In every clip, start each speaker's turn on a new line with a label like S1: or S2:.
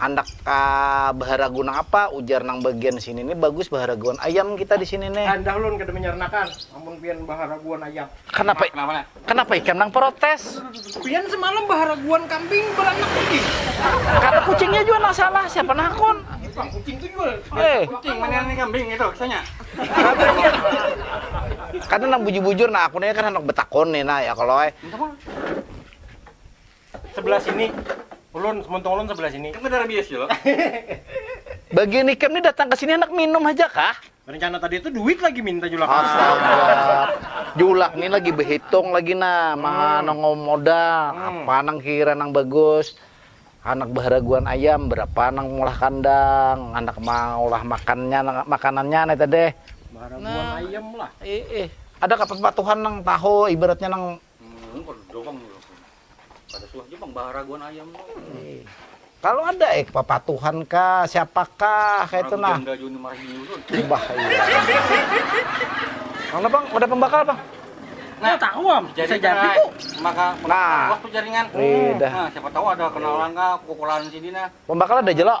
S1: Handak ka baharagu nang apa, ujar nang bagian sini ni bagus baharaguan ayam kita di sini ni. Handah ulun kada manyaranakan
S2: amun pian baharaguan ayam. Kanapa kanapa
S1: ikam nang protes? Pian semalam
S2: baharaguan kambing baranak lagi. Kada kucingnya
S1: jua nang salah, siapa nang hakun? Pang kucing tu
S2: jua. Eh. Kucing manyarangi
S3: kambing ngitu kisahnya.
S1: Kada nang bujur-bujur nah aku ni kan handak batakun ni nah ya kalo ai.
S2: Sebelah sini. Ulun, muntung ulun sebelah sini. Kan ada rabies ya
S3: lo.
S1: Bagian ikam ni datang ke sini handak minum haja kah? Rencana tadi itu duit
S2: lagi minta julak. Astaga.
S1: Julak ni lagi behitung lagi nah, hmm. mana modal, hmm. apa nang kira nang bagus. Anak baharaguan ayam berapa nang mulah kandang, anak maulah makannya makanannya nih tadi.
S2: Baharaguan nah, ayam lah. Eh,
S1: eh. Ada kepatuhan nang tahu ibaratnya nang Kalu ada eh papatuhan kah, siapakah kaya itu nah. Ubah iya. Mana bang, ada pembakal bang? Nah, tahu
S2: am, jadi jadi itu. Maka nah,
S3: waktu jaringan.
S1: Iya.
S3: Nah, siapa
S1: tahu ada
S3: kenalan kah, pukulan sini nah. Pembakal ada jelok.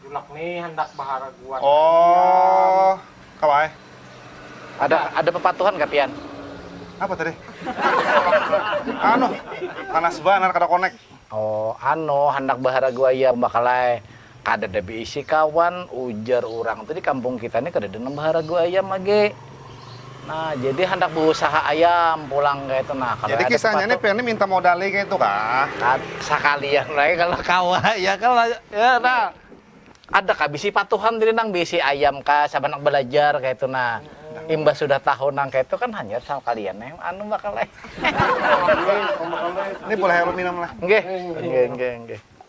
S2: Julak ni handak baharaguan ayam. Oh,
S4: kawa ai. Ada
S1: ada pepatuhan ka pian? Apa tadi?
S4: Anu, panas banar kada connect. Oh, anu
S1: handak baharagu ayam bakal ai. Kadada beisi kawan, ujar urang tu di kampung kita ni kadada nang baharagu ayam lagi. Nah, jadi handak beusaha ayam pulang kayak itu nah. Kalau jadi kisahnya ini pengen minta modal
S4: kayak itu kah? Nah, sekalian
S1: lagi kalau kawa ya kalau ya nah. Ada kah bisi patuhan diri nang bisi ayam kah sabanak belajar kayak itu nah. Imbah sudah tahu nang kayak itu kan hanya sama kalian yang anu bakal. ini
S4: boleh minum lah. Nggih. Nggih, nggih, nggih.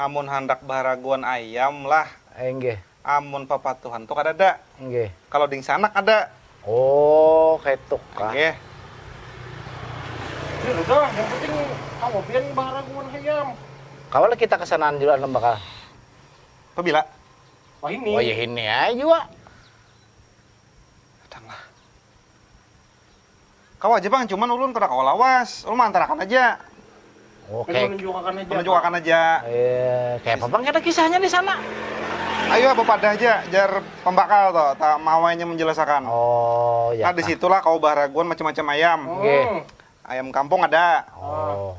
S1: Amun handak
S4: baharaguan ayam lah. Inggih. Amun
S1: papatuhan
S4: tu kadada. Inggih. Kalo
S1: dingsanak ada.
S4: Oh
S1: kaitu kah. Inggih.
S2: Jar udah yang penting kawa pian baharaguan hayam. Kawa lah kita
S1: kasanaan jua Anum bakal. Pabila?
S2: Wahini. Wayahini ai jua.
S4: Datanglah. Kawa aja pang, cuman ulun kada kawa lawas. Ulun mangantarakan aja. Oh, Hanya kayak
S1: menunjukakan aja.
S2: Menunjukakan aja. eh,
S4: kayak
S1: apa bang kita kisahnya di sana? Ayu ah
S4: bapadah aja, jar pambakal to, ta mawainya menjelasakan. Oh, ya Nah
S1: di kah. situlah kawa baharaguan
S4: macam-macam ayam. Nggih.
S1: Oh. Ayam kampung
S4: ada, Oh.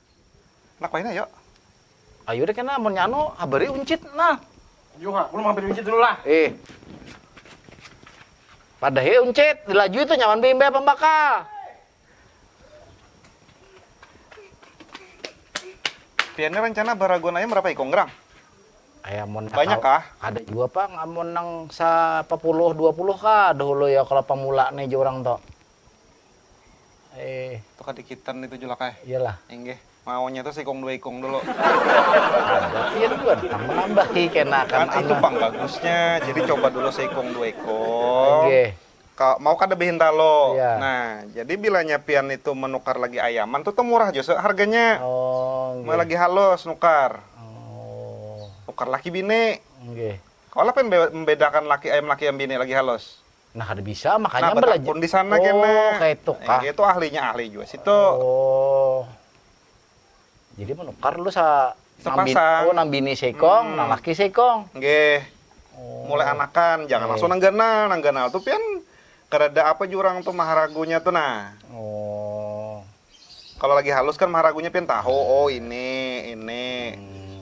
S1: Anak wayahini
S4: ayo. Ayu deh
S1: kena amunnya anu habari uncit nah. Yu ha, ulun menghabari
S2: uncit dulu lah. Ih.
S1: Padahi uncit, dilajui tuh nyaman be imbah pambakal.
S4: Pian ini rencana baraguan ayam berapa ikung gerang? Ayam mun
S1: banyak kah? Ada juga
S4: pang
S1: amun nang sa 10 20 kah dahulu ya kalau pemula nih orang tuh. Eh.
S4: Itu kadikitan itu Julak eh. Iyalah. Inggih.
S1: Maunya
S4: itu sikung dua ikung dulu.
S1: Ada. Iya dulu kan. Kan menambahi kena kan. Kan itu pang
S4: bagusnya. Jadi coba dulu sikung dua ikung. Inggih. Ka,
S1: mau kada
S4: behinta lo. Iya. Nah, jadi
S1: bilanya
S4: pian itu menukar lagi ayaman tuh tuh murah jose harganya. Oh. Mau lagi
S1: halus
S4: nukar. Oh.
S1: Nukar laki bini.
S4: Inggih. Kalau
S1: pian
S4: membedakan laki ayam laki ayam bini lagi halus. Nah kada bisa
S1: makanya nah, belajar. Pun di sana oh,
S4: kena. Kayak itu
S1: kah?
S4: Dia tuh
S1: ahlinya ahli juga
S4: situ. Oh.
S1: Jadi menukar lu sa Sepasang. Nambi, oh
S4: nambini seikong,
S1: hmm. nalaki seikong. Nggih. Oh.
S4: Mulai
S1: anakan,
S4: jangan okay. langsung nangganal. Nangganal tuh pian kerada apa jurang tuh maharagunya tuh nah. Oh.
S1: Kalau
S4: lagi halus kan maharagunya pian tahu, oh ini, ini. Hmm.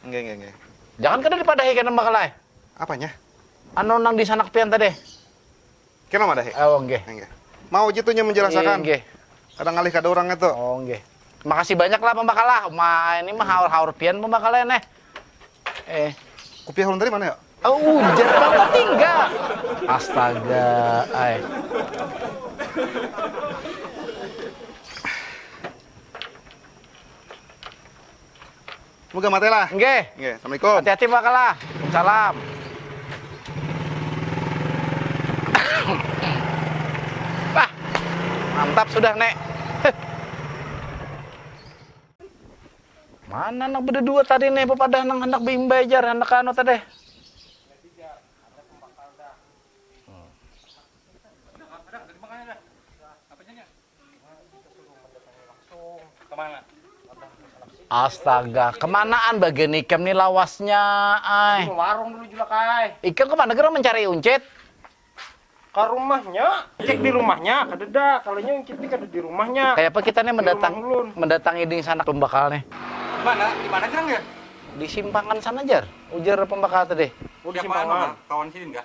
S4: Nggih nggih
S1: nggih.
S4: Jangan kada
S1: dipadahi kena Mbak Kala eh. Apanya?
S4: Anu nang
S1: disanak pian tadi.
S4: Kena
S1: madahi.
S4: Oh nggih. Nggih. Mau aja tuh nya
S1: menjelasakan.
S4: Nggih. Kada ngalih kada orang itu. Oh nggih.
S1: Makasih banyak lah Mbak Kala. Ma ini mah haur-haur pian Mbak Kala ya, neh. Eh.
S4: Kupiah ulun tadi mana ya? Oh, ujar
S1: bang tertinggal. Astaga, ay.
S4: semoga mate lah nge nge assalamualaikum
S1: hati hati
S4: mbak kalah
S1: salam ah mantap sudah nek mana anak beda dua tadi nih pepadah nang hendak bimbai jar hendak anu tadi
S3: Astaga,
S1: kemanaan bagian ikam nih lawasnya, ay. Ke warung dulu juga,
S2: Kai. Ikam kemana gerang mencari
S1: uncit?
S2: Ke rumahnya, cek di rumahnya, kadeda. Kalau nya uncit nih kada di rumahnya. Kayak apa kita nih mendatang,
S1: mendatangi
S2: ding sana
S1: pembakal nih? Di mana? Di
S3: mana gerang ya? Di simpangan
S1: sana jar, ujar pembakal tadi. Oh, di simpangan.
S2: Kawan
S3: sidin kah?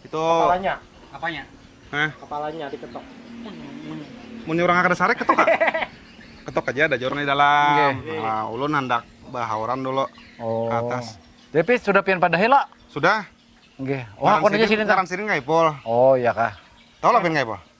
S4: Itu
S3: kepalanya.
S2: Apanya? Hah? Kepalanya
S4: diketok. Mun urang kada sarik ketok ah. ketok aja ada orang di dalam. Okay. Nah, ulun
S1: handak
S4: bahauran dulu oh. ke atas. Tapi sudah pian
S1: pada hela? Sudah.
S4: Nggih. Wah, oh,
S1: aku nanya sini. Ngaran sini enggak Ipul.
S4: Oh, iya kah.
S1: Tahu lah pian enggak Ipul?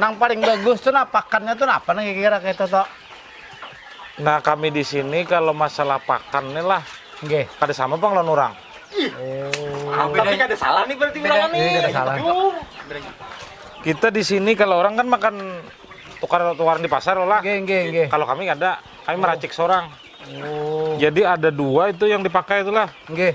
S1: Nang paling bagus tuh nah pakannya tuh nah apa nih kira kayak itu toh? Nah
S5: kami di sini kalau masalah pakan nih lah, okay. kada sama bang
S1: lawan orang.
S5: Oh.
S2: Tapi kada salah nih berarti orang nih. Iya, salah.
S5: Kita di sini kalau orang kan makan tukar tukaran di pasar lah. Okay, okay, okay. Kalau kami
S1: ada,
S5: kami oh. meracik seorang. Oh.
S1: Jadi ada dua
S5: itu yang dipakai itulah. Okay.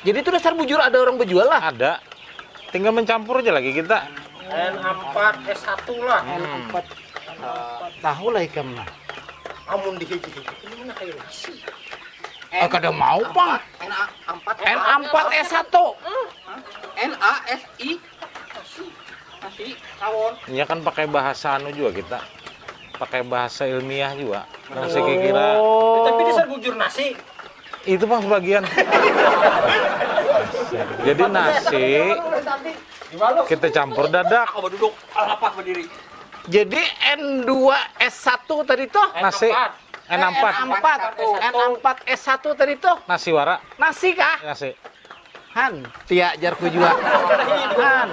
S1: Jadi itu dasar bujur ada orang berjual lah. Ada.
S5: Tinggal mencampur aja lagi kita. N4 S1
S2: lah. N4.
S1: Tahu lah ikam nah. Amun di hiji
S2: ini mana kayak nasi. Eh kada
S1: mau, Pak. N4 S1. N A S
S3: I Iya kan pakai bahasa
S5: anu juga kita. Pakai bahasa ilmiah juga. Yang oh. saya kira tapi dasar bujur
S2: nasi. Itu pas
S5: bagian. Jadi nasi kita campur dadak. duduk,
S3: alapak
S1: berdiri. Jadi N2 S1 tadi tuh nasi N4
S5: N4 N4 S1
S1: tadi tuh nasi wara. Nasi
S5: kah? Nasi. Han,
S1: tia jarku jua. Han,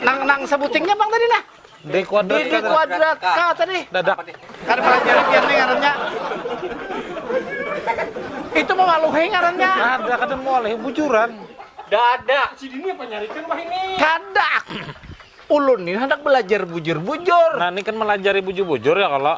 S1: nang nang sebutingnya bang tadi nah. D kuadrat. D
S5: kuadrat K
S1: tadi. Dadak. Kan
S5: pelajaran
S1: kian nih ngarannya. Itu mau maluhe ngarannya. Ada kada mau alih
S5: bujuran. Dadak.
S3: Si dini apa nyarikan
S2: bah ini? Kadak.
S1: Ulun ini hendak belajar bujur-bujur. Nah, ini kan melajari
S5: bujur-bujur ya kalau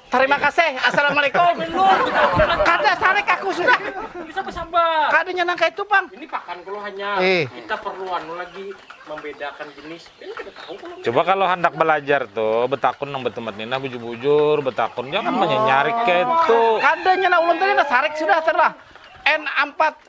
S3: Tarima
S1: kaseh, Assalamualaikum. Kada sarik aku sudah. Bisa besabar.
S2: Kada nya nang kaitu pang.
S1: Ini pakan kalo
S2: hanya. Eh. Kita perlu anu lagi membedakan jenis. Ini kada tahu kalo. Coba kalo handak belajar
S5: tu betakun nang betumat ni nah bujur-bujur betakun jangan menyenyarik kaitu. Kada nya nah ulun tadi
S1: nah sarik sudah terlah. N4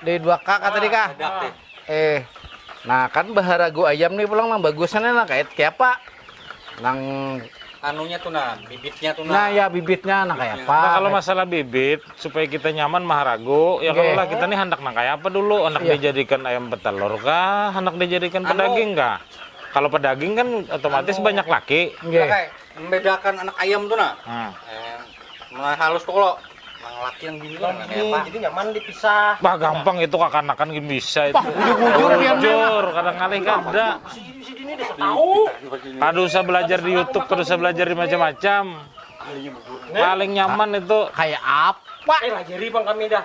S2: Dari dua ka ka tadi
S1: kah? Eh,
S3: nah kan
S1: baharagu ayam nih pulang nang bagusnya nih nang kaya kayapa? Nang anunya
S3: tu nah, bibitnya tu nah. Nah ya bibitnya nang
S1: kaya apa? Nah kalau masalah bibit
S5: supaya kita nyaman maharagu, ya kalau lah kita nih handak nang kaya apa dulu? Handak yeah. dijadikan ayam petelur kah? Handak dijadikan anu. pedaging kah? Kalau pedaging kan otomatis anu. banyak laki. Yeah.
S3: Membedakan anak ayam tu nah. Hmm. Eh, mulai halus tuh kalau yang laki yang bini kan kayak apa? Jadi nyaman dipisah.
S2: Bah gampang itu
S5: kakanakan gini bisa itu. Jujur ya
S1: jujur, kadang kali
S5: kada.
S2: Kada usah
S5: belajar di YouTube, kada usah belajar di macam-macam. Paling nyaman itu kayak apa?
S1: Eh, lajari bang kami
S2: dah.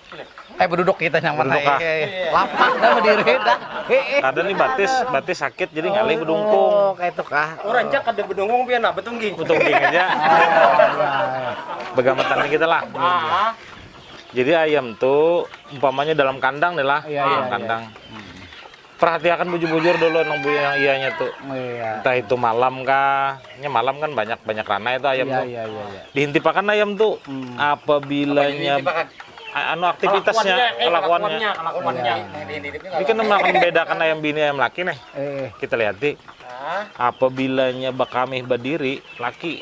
S3: Eh beduduk
S1: kita yang mana? Beduduk, ah. Eh, eh, eh. Lapak
S5: dah
S1: berdiri dah. Eh, eh. Kada nih batis,
S5: batis sakit jadi ngalih bedungkung. Oh, kayak itu kah?
S1: Orang cak kada bedungkung
S2: pian apa tungging. Tungging aja.
S5: Begamatan nih kita lah. Ah. Jadi ayam tuh umpamanya dalam kandang nih lah, Iya, dalam iya, kandang. Perhatiakan bujur-bujur dulu nang bunyi yang iyanya tu. Oh, iya. Entah itu
S1: malam
S5: kah. Nya malam kan banyak banyak ranai itu ayam iya, tu. Iya, iya, iya.
S1: Dihintipakan ayam
S5: tu hmm. apabilanya anu aktivitasnya kelakuannya kelakuannya ini kan makan bedakan ayam bini ayam laki nih eh. kita lihat di apabilanya bakamih berdiri laki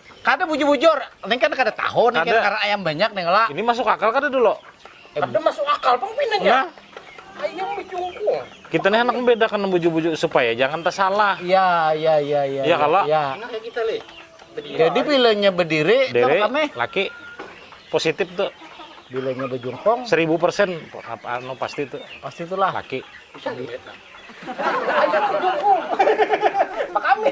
S2: Kada
S1: bujur-bujur, neng kan kada tahu neng kada karena ayam banyak neng lah. Ini masuk akal kada dulu?
S5: Kada masuk
S2: akal pang pinanya. Nah. Ayam bejungkung. Kita nih anak membedakan
S5: bujur-bujur supaya jangan tersalah. Iya, iya, iya,
S1: iya. Iya kalau.
S5: Iya. Nah, kita lih.
S2: Berdiri. Jadi
S1: bilanya berdiri, Dere, kami. laki
S5: positif tuh. Bilanya
S1: bejungkung. Seribu persen,
S5: anu pasti tuh. Pasti itulah. Laki.
S1: Bisa
S2: dilihat. Ayam bejungkung. Pak kami.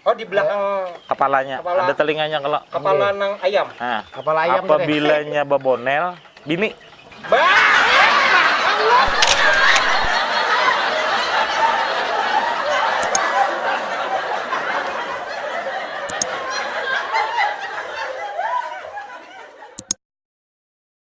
S5: Oh di belakang
S2: kepalanya, Kepala.
S5: ada telinganya
S2: kalau
S5: kepala nang ayam.
S2: Nah, kepala ayam
S5: apabilanya
S1: babonel
S5: bini. Ba